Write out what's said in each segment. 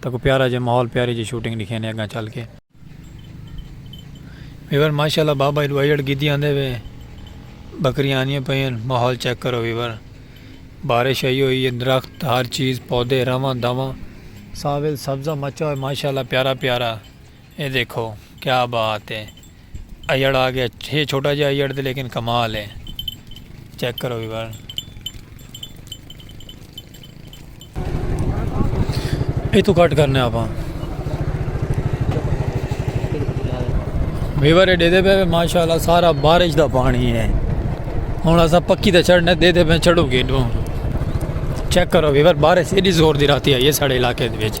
تکو پیارا جے ماحول پیاری جے شوٹنگ ڈکھینے اگاں چل کے۔ ویور ماشاءاللہ بابا ایڈو ایڈٹ گیدی آندے وے بکریاں آندیاں پئین ماحول چیک کرو ویور بارش ائی ہوئی ہے درخت ہر چیز پودے رواں دواں ساول سبزہ مچا ہوئے ماشاءاللہ پیارا پیارا۔ اے دیکھو کیا بات ہے ایڑ آ گیا ہے چھوٹا جا ایڑ دے لیکن کمال ہے چیک کرو بھی بار اے تو کٹ کرنے آپ ہاں ویور دے دے پہ ماشاءاللہ سارا بارش دا پانی ہے ہن اسا پکی تے چڑھنے دے دے پہ چڑھو گے چیک کرو ویور بارش ایڈی زور دی راتی آئی ہے ساڑے علاقے دے وچ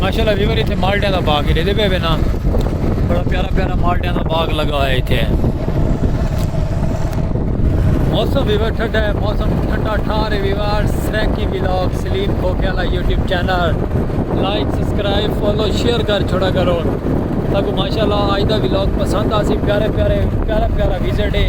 ماشاءاللہ ویور اتھے مالٹیاں دا باغ ڈیدے پے وینا بڑا پیارا پیارا مالٹیاں دا باغ لگا ہوا ہے اتھے موسم ویور ٹھڈا ہے موسم ٹھڈا ٹھار ہے ویور سریکی ویلاگ سلیم کھوکے والا YouTube channel like subscribe follow share کر چھوڑا کرو تاکہ ماشاءاللہ آج دا ویلاگ پسند آسی پیارے پیارے پیارا پیارا ویزٹ ہے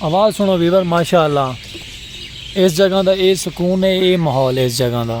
آواز سنو ویور ماشاء اللہ اس جگہ دا اے سکون ہے اے ماحول ہے اس جگہ دا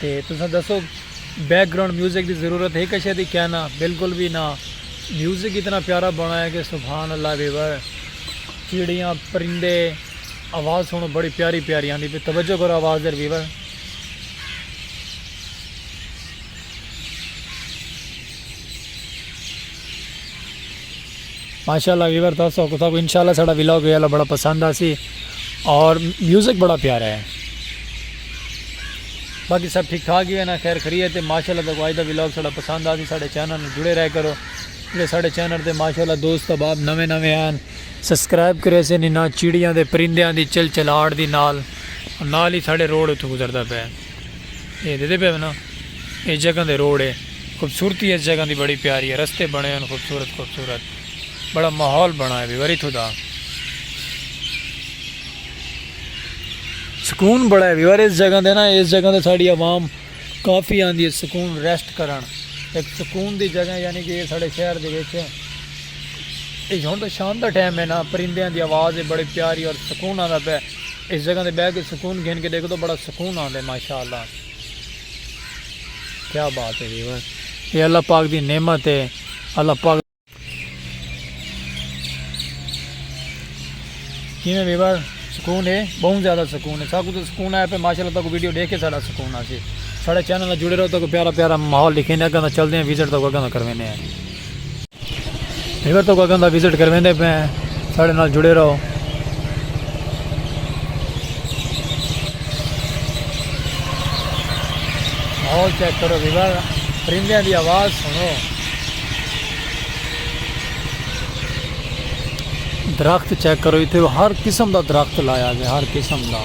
تے تساں دسو بیک گراؤنڈ میوزک دی ضرورت ہے کشے دی کیا نا بالکل وی نا میوزک اتنا پیارا بنڑایا کہ سبحان اللہ وی وا چڑیاں پرندے آواز سنڑو بڑی پیاری پیاری آندی پی توجہ کرو آواز دے وی وا۔ ماشاءاللہ ویور تھا سو کتا کو انشاءاللہ سڑا ویلاگ ویلا بڑا پسند آسی اور میوزک بڑا پیارا ہے باقی سب ٹھیک ٹھاک ہی ہے نا خیر خری ہے تے ماشاءاللہ تک آج دا ویلاگ سڑا پسند آسی سڑے چینل جڑے رہ کرو جڑے سڑے چینل تے ماشاءاللہ دوست باب نوے نوے ہیں سبسکرائب کرے سے نینا چیڑیاں دے پرندیاں دی چل چلاڑ دی نال نال ہی سڑے روڑ اتھو گزردا پہ یہ دے دے پہ نا یہ جگہ دے روڑ ہے خوبصورتی اس جگہ دی بڑی پیاری ہے رستے بنڑے ہن خوبصورت خوبصورت بڑا ماحول بنڑا ہے بھئی وری تھو دا سکون بڑا ہے بھئی وری اس جگہ دے نا اس جگہ دے ساڑی عوام کافی آندی ہے سکون ریسٹ کرن ایک سکون دی جگہ ہے یعنی کہ ساڑے شہر دے ویچ ہے اس جگہ دے شام دا ٹائم ہے نا پرندے آن دی آواز ہے بڑی پیاری اور سکون آن دا پہ اس جگہ دے بیگ سکون گھن کے دیکھ دو بڑا سکون آن دے ماشاءاللہ کیا بات ہے جی وے اے اللہ پاک دی نعمت ہے اللہ پاک کیویں ویور سکون ہے بہت زیادہ سکون ہے ساکو تو سکون آیا پہ ماشاءاللہ تاکو ویڈیو دیکھ کے ساڑا سکون آسی ساڑے چینل جڑے رہو تاکو پیارا پیارا ماحول لکھیں دے اگاں دا چل دے ہیں وزٹ تاکو اگاں دا کرویں دے ہیں ہیور تک اگاں دا وزٹ کرویندے پے ہیں ساڑے نال جڑے رہو ماحول چیک کرو ویور پرندے دی آواز سنو درخت چیک کرو اتنے ہر قسم دا درخت لایا گیا ہر قسم دا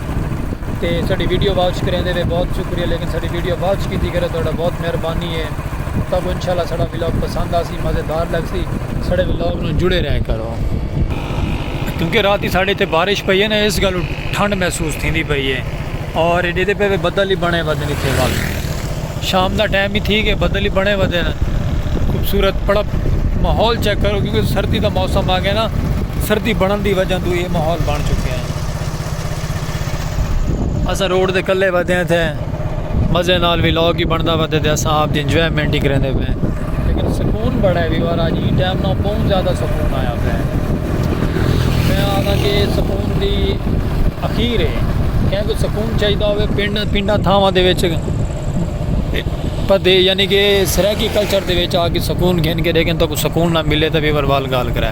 تے ساڈی ویڈیو واچ کریندے وے بہت شکریہ لیکن ساڈی ویڈیو واچ کیتی کرو تہاڈا بہت مہربانی ہے تہاکو انشاءاللہ ساڈا ولاگ پسند آسی مزیدار لگسی ساڈے ولاگ نو جڑے رہ کرو کیونکہ راتی ساڈے تے بارش پئی ہے نا اس گالو ٹھنڈ محسوس تھیندی پئی ہے اور ایڈے تے پہ بدل ہی بنے ودن اتنے وقت شام دا ٹائم ہی تھی کہ بدل ہی بنے ودن خوبصورت بڑا ماحول چیک کرو کیونکہ سردی دا موسم آ گیا نا سردی بڑھن دی وجہ تو یہ ماحول بن چکے ہیں اساں روڈ تے کلے ودے ہیں تھے مزے نال وی لاگ ہی بندا ودے تے اساں آپ دی انجوائمنٹ ہی کریندے پے لیکن سکون بڑا ہے وی وار اج ہی ٹائم نہ بہت زیادہ سکون آیا پے میں آنا کہ سکون دی اخیر ہے کہیں کو سکون چاہیے ہوئے پنڈ پنڈا تھاواں دے وچ پدے یعنی کہ سرائیکی کلچر دے وچ آ کے سکون گھن کے لیکن تو کو سکون نہ ملے تو وی وار وال گال کرے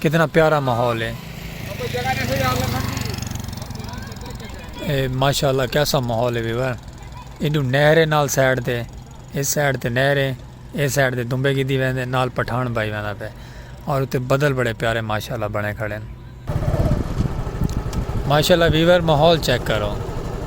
کتنا پیارا ماحول ہے ماشاءاللہ کیسا ماحول ہے ویور ایڈو نہر ہے نال سائڈ تے اس سائڈ تے نہر ہے اس سائڈ تے دمبے کی دی ویندے نال پٹھان بائی ویندہ پہ اور اتے بدل بڑے پیارے ماشاءاللہ بڑے کھڑے ہیں ماشاءاللہ ویور ماحول چیک کرو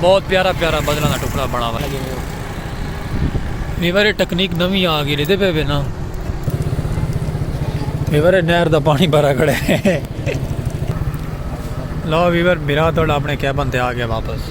بہت پیارا پیارا بدلاں دا ٹکڑا بنا ہوا ہے یہ بارے ٹیکنیک نوی آ گئی لیتے پہ نا یہ بارے نہر دا پانی بھرا کھڑے ہیں لو ویور میرا تو اپنے کیبن تے آ گیا واپس